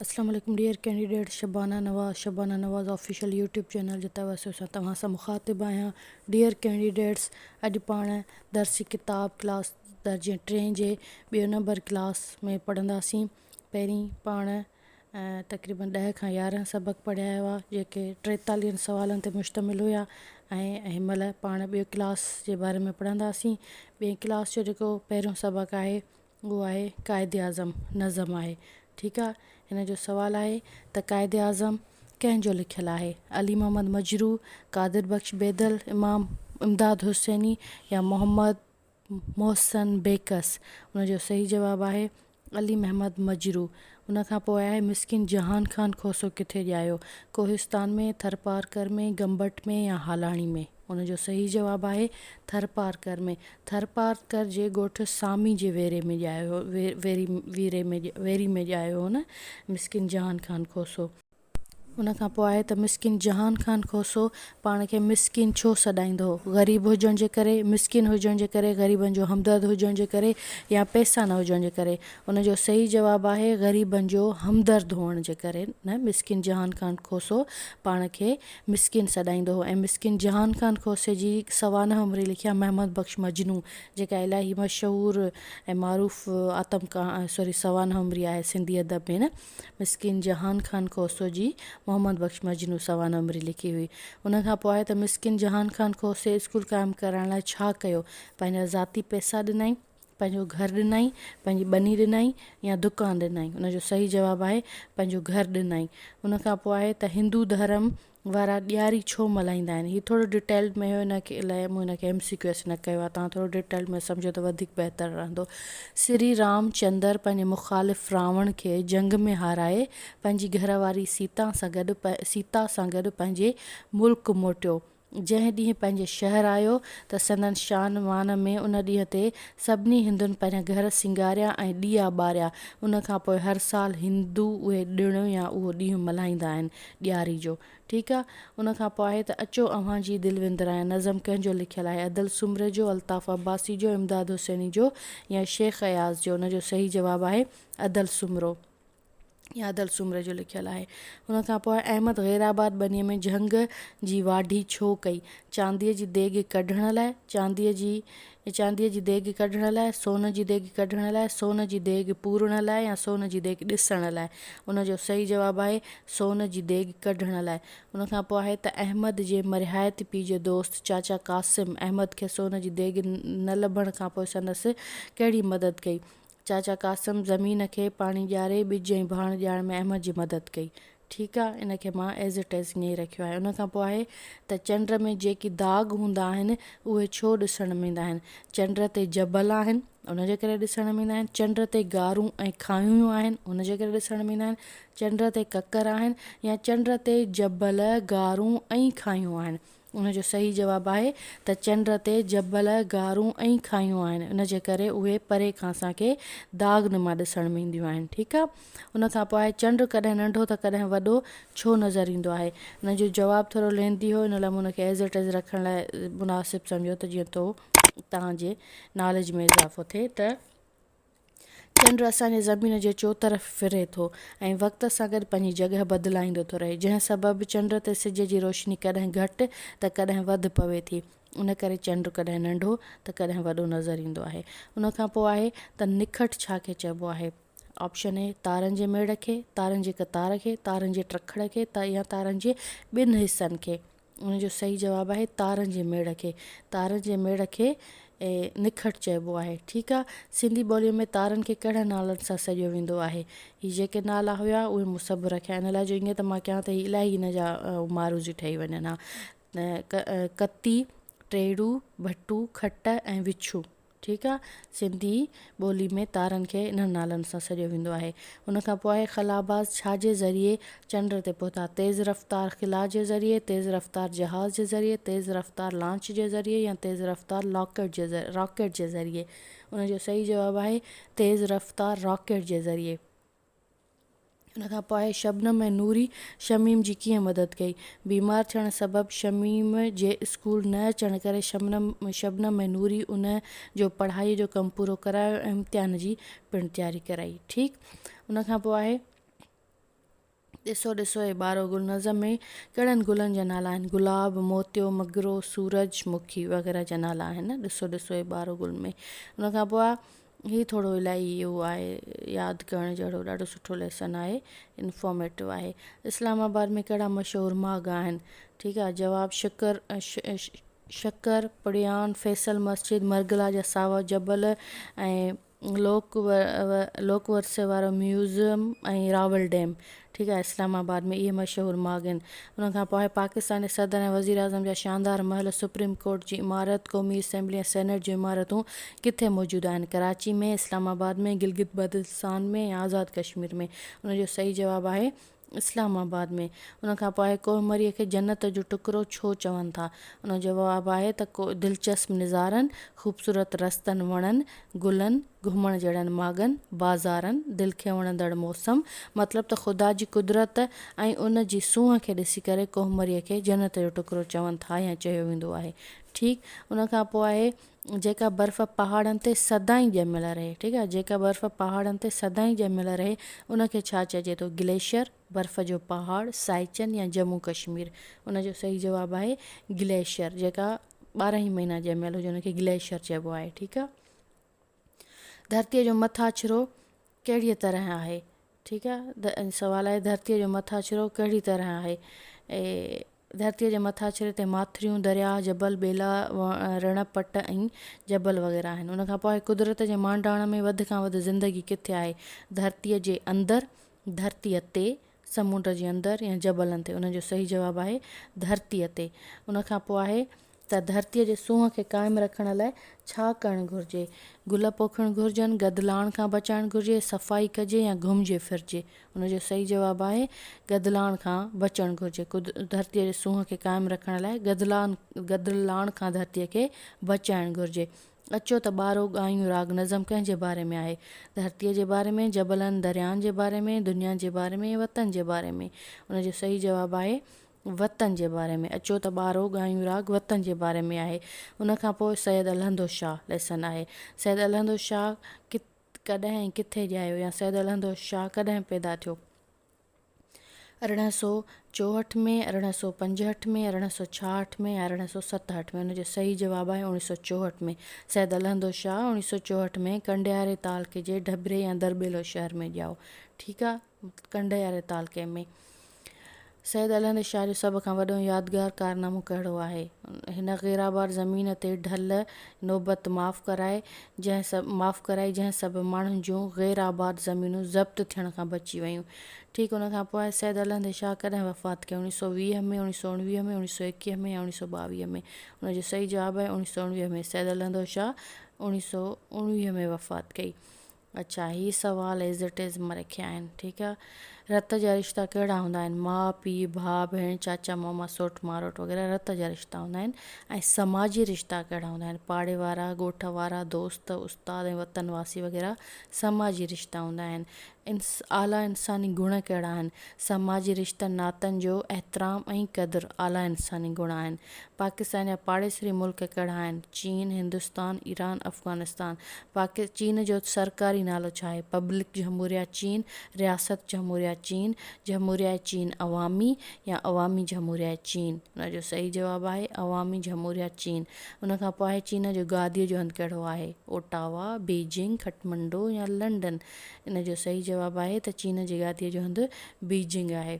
اسلام عليڪم dear candidate Shabana Nawaz Shabana Nawaz official YouTube channel جي توسط سان توهان سان مخاطب آهيان ڊيئر ڪينڊيڊيٽس اڄ پاڻ درسي ڪتاب ڪلاس درجي ٽين جي ٻيو نمبر ڪلاس ۾ پڙهنداسين پهرين پاڻ تقريبن ڏهه کان يارهن سبق پڙهيا هوا جيڪي ٽيتاليهن سوالن تي مشتمل هيا ۽ هن مهل پاڻ ٻيو ڪلاس جي باري ۾ پڙهنداسين ٻئي ڪلاس جو جيڪو پهريون سبق آهي اهو آهي قائد اعظم نظم آهي ٺيڪ آ هن جو سوال آهي ته قائد اعظم ڪنهن جو لکيل آهي علي محمد مجروح قادر بخش بيدل امام امداد حسيني يا محمد محسن بيڪس ان جو صحيح جواب آهي علي محمد مجروح ان کان پوء آء مسڪين جهان خان کوسو ڪٿي ڄايو؟ ڪوهستان ۾، ٿرپارڪر ۾، گمبٽ ۾، يا هالاڻي ۾؟ ان جو صحيح جواب آهي، ٿرپارڪر ۾. ٿرپارڪر جي ڳوٺ سامي جي ويري ۾ ڄايو هو، ويري ۾ ڄايو هو نه مسڪين جهان خان کوسو. ان کان پوء آهي ته مسڪين جهان خان کوسو پاڻ کي مسڪين ڇو سڏائيندو هو؟ غريب هجڻ جي ڪري، مسڪين هجڻ جي ڪري، غريبن جو همدرد هجڻ جي ڪري يا پئسا نه هجڻ جي ڪري؟ ان جو صحيح جواب آهي غريبن جو همدرد هئڻ جي ڪري نه مسڪين جهان خان کوسو پاڻ کي مسڪين سڏائيندو هو ۽ مسڪين جهان خان کوسي جي سوانح عمري لکيا محمد بخش مجنو جيڪا الاهي مشهور ۽ معروف آتم ڪها سوري سوانح عمري آهي سنڌي ادب ۾ نه مسڪين جهان خان کوسو جي محمد بخش مجنون سوانح عمري لکي هئي. ان کان پوء آء ته مسڪين جهان خان کوسي اسڪول قائم ڪرائڻ لاء ڇا ڪيو؟ پنهنجا ذاتي پئسا ڏنائين؟ پنهنجو گهر ڏنائين؟ پنهنجي ٻني ڏنائين؟ يا دڪان ڏنائين؟ ان جو صحيح جواب آهي پنهنجو گهر ڏنائين. ان کان پوء آء ته هندو ڌرم وارا ڏياري ڇو ملهائيندا آهن هي ٿورو ڊيٽيل ۾ هيو هن کي الائي مون هن کي ايم سي ڪيو ايس نه ڪيو آهي تان ٿورو ڊيٽيل ۾ سمجهو ته وڌيڪ بهتر رهندو سري رام چندر پنهنجي مخالف راوڻ کي جنگ ۾ هارائي پنهنجي گهر واري سيتا سان گڏ سيتا سان گڏ پنهنجي ملڪ موٽيو جنهن ڏينهن پنهنجي شهر آيو ته سندن شان مان ۾ ان ڏينهن تي سڀني هندن پنهنجا گهر سينگاريا ۽ ڏيئا ٻاريا ان کان پوء هر سال هندو اهي ڏڻ يا اهو ڏينهن ملهائيندا آهن ڏياري جو. ٺيڪ آ. ان کان پوء آهي ته اچو اوهان جي دل وندرايان نظم ڪنهن جو لکيل آهي، ادل سومري جو، الطاف عباسي جو، امداد حسيني جو يا شيخ اياز جو؟ ان جو صحيح جواب آهي ادل سومرو يا ادل سومري جو لکيل آهي. ان کان پوء احمد غير آباد ٻنيء ۾ جهنگ جي واڍي ڇو ڪئي؟ چانديء جي ديڳ ڪڍڻ لاء، چانديء جي چانديء جي ديڳ ڪڍڻ لاء، سون جي ديڳ ڪڍڻ لاء، سون جي ديڳ پورڻ لاء يا سون جي ديڳ ڏسڻ لاء؟ ان جو صحيح جواب آهي، سون جي ديڳ ڪڍڻ لاء. ان کان پوء آهي ته احمد جي مرحايتي پيء جو دوست چاچا قاسم، احمد کي سون جي ديڳ نه لڀڻ کان پوء سندس ڪهڙي مدد ڪئي؟ چاچا قاسم زمين کي پاڻي ڄاري ٻج ۽ ڀاڻ ڄاڻ ۾ احمد جي مدد ڪئي. ٺيڪ آ ان کي مان As It As ائين ئي رکيو آهي. ان کان پوء آهي ته چنڊ ۾ جيڪي داغ هوندا آهن اهي ڇو ڏسڻ ۾ ايندا آهن؟ چنڊ تي جبل آهن ان جي ڪري ڏسڻ ۾ ايندا آهن. چنڊ تي غارون ۽ کانئون آهن ان جي ڪري ڏسڻ ۾ ايندا آهن. چنڊ تي ڪڪر آهن يا چنڊ تي جبل، غارون ۽ کانئون آهن. ان جو صحيح جواب آهي ته چنڊ تي جبل، غارون ۽ کاهيون آهن ان جي ڪري اهي پري کان اسان کي داغ نما ڏسڻ ۾ اينديون آهن ٺيڪ آ ان کان پوء آهي چنڊ ڪڏهن ننڍو ته ڪڏهن وڏو ڇو نظر ايندو آهي ان جو جواب ٿورو لينڌي هو ان لاء مون ان کي As it is رکڻ لاء مناسب سمجهيو ته جيئن تو توهان جي ناليج ۾ اضافو ٿئي ته چنڊ اسان جي زمين جي چوطرف ڦري ٿو ۽ وقت سان گڏ پنهنجي جڳهه بدلائيندو ٿو رهي، جنهن سبب چنڊ تي سج جي روشني ڪڏهن گهٽ ته ڪڏهن وڌ پوي ٿي، ان ڪري چنڊ ڪڏهن ننڍو ته ڪڏهن وڏو نظر ايندو آهي. ان کان پوء آهي ته نکٽ ڇا کي چئبو آهي؟ آپشن اي، تارن جي ميڙ کي، تارن جي قطار کي، تارن جي ٽرکڙ کي يا تارن جي ٻن حصن کي. ان جو صحيح جواب آهي تارن جي ميڙ کي تارن جي ميڙ کي نکٽ چئبو آهي ٺيڪ آ سنڌي ٻولي ۾ تارن کي ڪهڙن نالن سان سڏيو ويندو آهي هي جيڪي نالا هيا اهي مون سڀ رکيا ان لاء جو ائين ته مان ڪيان ته هي الاهي هن جا معروض ئي ٺهي وڃن ها ڪتي ٽيڙو ڀٽو کٽ ۽ وڇو ٺيڪ آ سنڌي ٻولي ۾ تارن کي انهن نالن سان سڏيو ويندو آهي. ان کان پوء خلاباز ڇا جي ذريعي چنڊ تي پهتا؟ تيز رفتار خلا جي ذريعي، تيز رفتار جهاز جي ذريعي، تيز رفتار لانچ جي ذريعي يا تيز رفتار لاڪيٽ جي راڪيٽ جي ذريعي. ان جو صحيح جواب آهي تيز رفتار راڪيٽ جي ذريعي. ان کان پوء شبنم ۽ نوري شميم جي ڪيئن مدد ڪئي؟ بيمار ٿيڻ سبب شميم جي اسڪول نه اچڻ ڪري شبنم شبنم ۽ نوري ان جو پڙهائي جو ڪم پورو ڪرايو ۽ امتحان جي پڻ تياري ڪرائي ٺيڪ ان کان پوء آهي ڏسو ڏسو اي ٻارو گل نظم ۾ ڪهڙن گلن جا نالا آهن گلاب موتيو مگرو سورج مکي وغيره جا نالا آهن ڏسو ڏسو اي ٻارو گل ۾ ان کان پوء هي ٿورو الاهي اهو آهي ياد ڪرڻ جهڙو ڏاڍو سٺو ليسن آهي انفارميٽو آهي اسلام آباد ۾ ڪهڙا مشهور ماڳ آهن ٺيڪ آهي جواب شڪر شڪر پڙيان فيصل مسجد مرگلا جا ساوا جبل ۽ لوڪ لوڪ ورثي وارو ميوزم ۽ راول ڊيم ٺيڪ آهي اسلام آباد ۾ اهي مشهور ماڳ آهن انهن کان پوء پاڪستاني صدر ۽ وزيراعظم جا شاندار محل سپريم ڪورٽ جي عمارت قومي اسيمبلي ۽ سينيٽ جون عمارتون ڪٿي موجود آهن ڪراچي ۾ اسلام آباد ۾ گلگت بلتستان ۾ يا آزاد ڪشمير ۾ ان جو صحيح جواب آهي اسلام آباد ۾ ان کان پوء ڪوه مري کي جنت جو ٽڪرو ڇو چون ٿا ان جو جواب آهي ته ڪو دلچسپ نظارن خوبصورت رستن وڻن گلن گهمڻ جهڙن ماڳن، بازارن، دل کي وڻندڙ موسم، مطلب ته خدا جي قدرت ۽ ان جي سونهن کي ڏسي ڪري ڪوهمريء کي جنت جو ٽڪرو چون ٿا يا چيو ويندو آهي. ٺيڪ ان کان پوء آهي جيڪا برف پهاڙن تي سدائين ڄميل رهي. ٺيڪ آهي جيڪا برف پهاڙن تي سدائين ڄميل رهي ان کي ڇا چئجي ٿو گليشيئر، برف جو پهاڙ، سائچن يا جمون ڪشمير. ان جو صحيح جواب آهي گليشيئر جيڪا ٻارهن ئي مهينا ڄميل هجي ان کي گليشيئر چئبو آهي. ٺيڪ آهي. ڌرتيء جو مٿاڇرو ڪهڙيء طرح آهي؟ ٺيڪ آ سوال آهي ڌرتيء جو مٿاڇرو ڪهڙي طرح آهي؟ ڌرتيء جي مٿاڇري تي ماٿريون، درياء، جبل، ٻيلا، رڻ، پٽ ۽ جبل وغيره آهن. ان کان پوء قدرت جي مانڊاڻ ۾ وڌ کان وڌ زندگي ڪٿي آهي؟ ڌرتيء جي اندر، ڌرتيء تي، سمنڊ جي اندر يا جبلن تي؟ ان جو صحيح جواب آهي ڌرتيء تي. ان کان پوء آهي ته ڌرتيء جي سونهن کي قائم رکڻ لاء ڇا ڪرڻ گهرجي؟ گل پوکڻ گهرجن، گدلاڻ کان بچائڻ گهرجي، صفائي ڪجي يا گهمجي ڦرجي؟ ان جو صحيح جواب آهي گدلاڻ کان بچڻ گهرجي. ڌرتيء جي سونهن کي قائم رکڻ لاء گدلاڻ گدلاڻ کان ڌرتيء کي بچائڻ گهرجي. اچو ته ٻارو ڳايون راڳ نظم ڪنهن جي باري ۾ آهي؟ ڌرتيء جي باري ۾، جبلن دريائن جي باري ۾، دنيا جي باري ۾، وطن جي باري ۾؟ ان جو صحيح جواب آهي وطن جي باري ۾ اچو ته ٻارهو ڳايون راڳ وطن جي باري ۾ آهي. ان کان پوء سيد الهندو شاهه ليسن آهي. سيد الهندو شاهه ڪت ڪڏهن ۽ ڪٿي ڄايو يا سيد الهندو شاهه ڪڏهن پيدا ٿيو؟ ارڙهن سؤ چوهٺ ۾، ارڙهن سؤ پنجهٺ ۾، ارڙهن سؤ ڇاهٺ ۾ يا ارڙهن سؤ ستهٺ ۾؟ ان جو صحيح جواب آهي اوڻيهه سؤ چوهٺ ۾. سيد الهندو شاهه اوڻيهه سؤ چوهٺ ۾ ڪنڊياري تعلقي جي ڍبري يا درٻيلو شهر ۾ ڄائو. ٺيڪ آهي. ڪنڊياري تعلقي ۾ سيد الهند شاهه جو سڀ کان وڏو يادگار ڪارنامو ڪهڙو آهي؟ هن غيرآباد زمين تي ڍل نوبت معاف ڪرائي جنهن سبب معاف ڪرائي جنهن سبب ماڻهن جون غير آباد زمينون ضبط ٿيڻ کان بچي ويون. ٺيڪ ان کان پوء سيد الهند شاهه ڪڏهن وفات ڪيو اوڻيھ سؤ ويهه ۾ اوڻيھ سؤ اڻويهه ۾ اوڻيھ سؤ ايڪيهه ۾ يا اوڻيھ سؤ ٻاويهه ۾ ان جو صحيح جواب آهي اوڻيھ سؤ اڻويهه ۾ سيد الهند شاهه اوڻيھ سؤ اڻويهه ۾ وفات ڪئي اڇا هي سوال ايز اٽ ايز مان رکيا آهن ٺيڪ آ رت جا رشتا ڪهڙا هوندا آهن ماء پي ڀاء ڀيڻ چاچا ماما سوٽ ماروٽ وغيره رت جا رشتا هوندا آهن ۽ سماجي رشتا ڪهڙا هوندا آهن پاڙي وارا ڳوٺ وارا دوست استاد ۽ وطن واسي وغيره سماجي رشتا هوندا آهن انس اعليٰ انساني گڻ ڪهڙا آهن سماجي رشتن ناتن جو احترام ۽ قدر اعليٰ انساني گڻ آهن پاڪستان جا پاڙيسري ملڪ ڪهڙا آهن؟ چين، هندستان، ايران، افغانستان. پاڪ چين جو سرڪاري نالو ڇا آهي؟ پبلڪ جهموريه چين، رياست جهموريه چين، جهموريه چين عوامي يا عوامي جهموريه چين. ان جو صحيح جواب آهي عوامي جهموريه چين. ان کان پوء آهي چين جو گاديء جو هنڌ ڪهڙو آهي؟ اوٽاوا، بيجنگ، کٽمنڊو يا لنڊن. ان جو صحيح جواب آهي ته چين جي گاديء جو هنڌ بيجنگ آهي.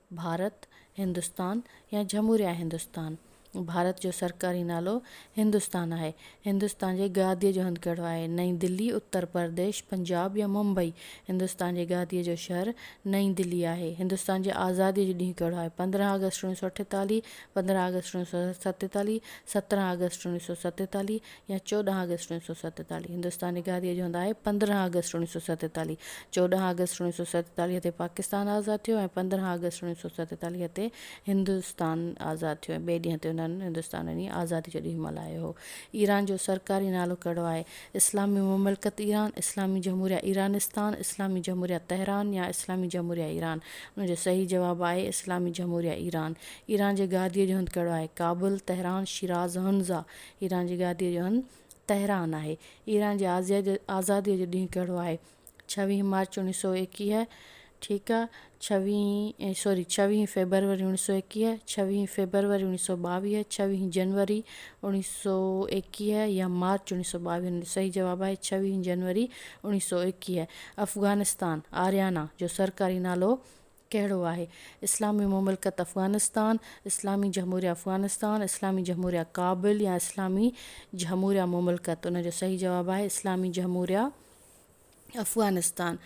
ڀارت، هندستان يا جھموريا هندستان، ڀارت جو سرڪاري نالو هندستان آهي. هندستان جي گاديء جو هنڌ ڪهڙو آهي؟ نئين دلي، اتر پرديش، پنجاب يا ممبئي، هندستان جي گاديء جو شهر نئين دلي آهي. هندستان جي آزاديء جو ڏينهن ڪهڙو آهي؟ پندرهن آگسٽ اوڻيھ سؤ اٺيتاليھ، پندرهن آگسٽ اوڻيھ سؤ ستيتاليھ، سترهن آگسٽ اوڻيھ سؤ ستيتاليھ يا چوڏهن آگسٽ اوڻيھ سؤ ستيتاليھ هندستان نگاريء جو هنڌ آهي پندرهن آگسٽ اوڻيھ سؤ ستيتاليھ چوڏهن آگسٽ اوڻيھ سؤ ستيتاليھ تي پاڪستان آزاد ٿيو ۽ پندرهن آگسٽ اوڻيھ سؤ ستيتاليھ تي هندستان آزاد ٿيو ۽ ٻئي ڏينهن تي انهن هندستان ۽ آزادي جو ڏينهن ملهايو هو ايران جو سرڪاري نالو ڪهڙو آهي اسلامي مملڪت ايران اسلامي جمهوريه ايرانستان اسلامي جمهوريه تهران يا اسلامي جمهوريه ايران ان جو صحيح جواب آهي اسلامي جمهوريه ايران ايران جي گاديء جو هنڌ ڪهڙو آهي Kabul Tehran Shiraz Hunza Iran جي گاديء جو هنڌ تهران آهي. ايران جي آزاديء جو ڏينهن ڪهڙو آهي؟ ڇويهين مارچ اوڻيهه سؤ ايڪيهه، ٺيڪ آ، ڇويهين سوري ڇويهين فيبروري اوڻيهه سؤ ايڪيهه، ڇويهين فيبروري اوڻيهه سؤ ٻاويهه، ڇويهين جنوري اوڻيهه سؤ ايڪيهه يا مارچ اوڻيهه سؤ ٻاويهه جو صحيح جواب آهي ڇويهين جنوري اوڻيهه سؤ ايڪيهه. افغانستان، آريانا، جو سرڪاري نالو ڪهڙو آهي؟ اسلامي مملڪت افغانستان، اسلامي جهموريه افغانستان، اسلامي جهموريه ڪابل يا اسلامي جهموريه مملڪت؟ ان جو صحيح جواب آهي اسلامي جهموريه افغانستان.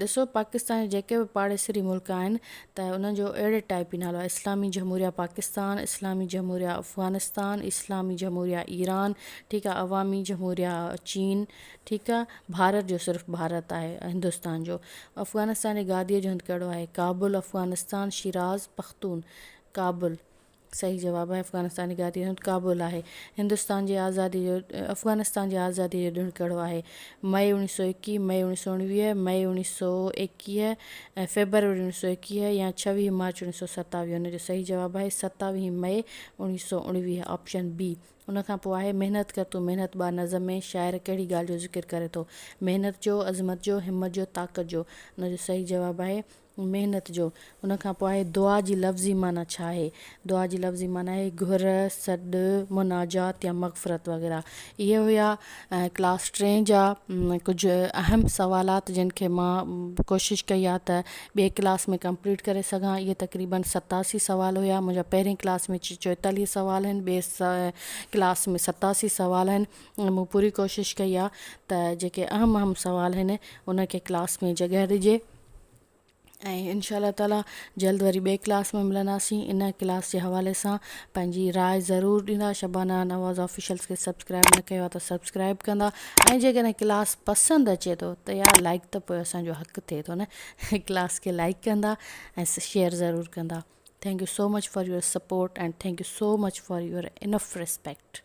ڏسو پاڪستان جا جيڪي به پاڙيسري ملڪ آهن ته انهن جو اهڙي ٽائيپ ئي نالو آهي اسلامي جهموريه پاڪستان، اسلامي جهموريه افغانستان، اسلامي جهموريه ايران، ٺيڪ آهي عوامي جهموريه چين، ٺيڪ آ ڀارت جو صرف ڀارت آهي هندستان جو افغانستان جي گادي جو هنڌ ڪهڙو آهي ڪابل افغانستان شيراز پختون ڪابل صحيح جواب آهي افغانستان جي گادي جو هنڌ ڪابل آهي هندستان جي آزادي جو افغانستان جي آزادي جو ڏڻ ڪهڙو آهي مئي اوڻيھ سئو ايڪيھ مئي اوڻيھ سئو اوڻويھ مئي اوڻيھ سئو ايڪيھ ۽ فيبروري اوڻيھ سئو ايڪيھ يا ڇويھ مارچ اوڻيھ سئو ستاويھ ان جو صحيح جواب آهي ستاويھ مئي اوڻيھ سئو اوڻويھ آپشن بي ان کان پوء آهي محنت ڪر تون محنت ٻار نظم ۾ شاعر ڪهڙي ڳالهه جو ذڪر ڪري ٿو؟ محنت جو، عظمت جو، همت جو، طاقت جو؟ ان جو صحيح جواب آهي محنت جو. ان کان پوء آهي دعا جي لفظي معنيٰ ڇا آهي؟ دعا جي لفظي معنيٰ آهي گهر، سڏ، مناجات يا مغفرت وغيره. اهي هيا. ۽ ڪلاس ٽين جا ڪجهه اهم سوالات جن کي مان ڪوشش ڪئي آ ته ٻي ڪلاس ۾ ڪمپليٽ ڪري سگهان اهي تقريبن ستاسي سوال هيا منهنجا پهرين ڪلاس ۾ چوئيتاليهه سوال آهن ٻي ڪلاس ۾ ستاسي سوال آهن مون پوري ڪوشش ڪئي آ ته جيڪي اهم اهم سوال آهن ان کي ڪلاس ۾ جڳهه ڏجي ۽ انشاء الله تعالٰي جلد وري ٻئي ڪلاس ۾ ملنداسين ان ڪلاس جي حوالي سان پنهنجي راء ضرور ڏيندا شبانه نواز آفيشلس کي سبسڪرائب نه ڪيو آهي ته سبسڪرائب ڪندا ۽ جيڪڏهن ڪلاس پسند اچي ٿو ته يار لائڪ ته پوء اسانجو حق ٿئي ٿو نه ڪلاس کي لائڪ ڪندا ۽ شيئر ضرور ڪندا thank you so much for your support and thank you so much for your enough respect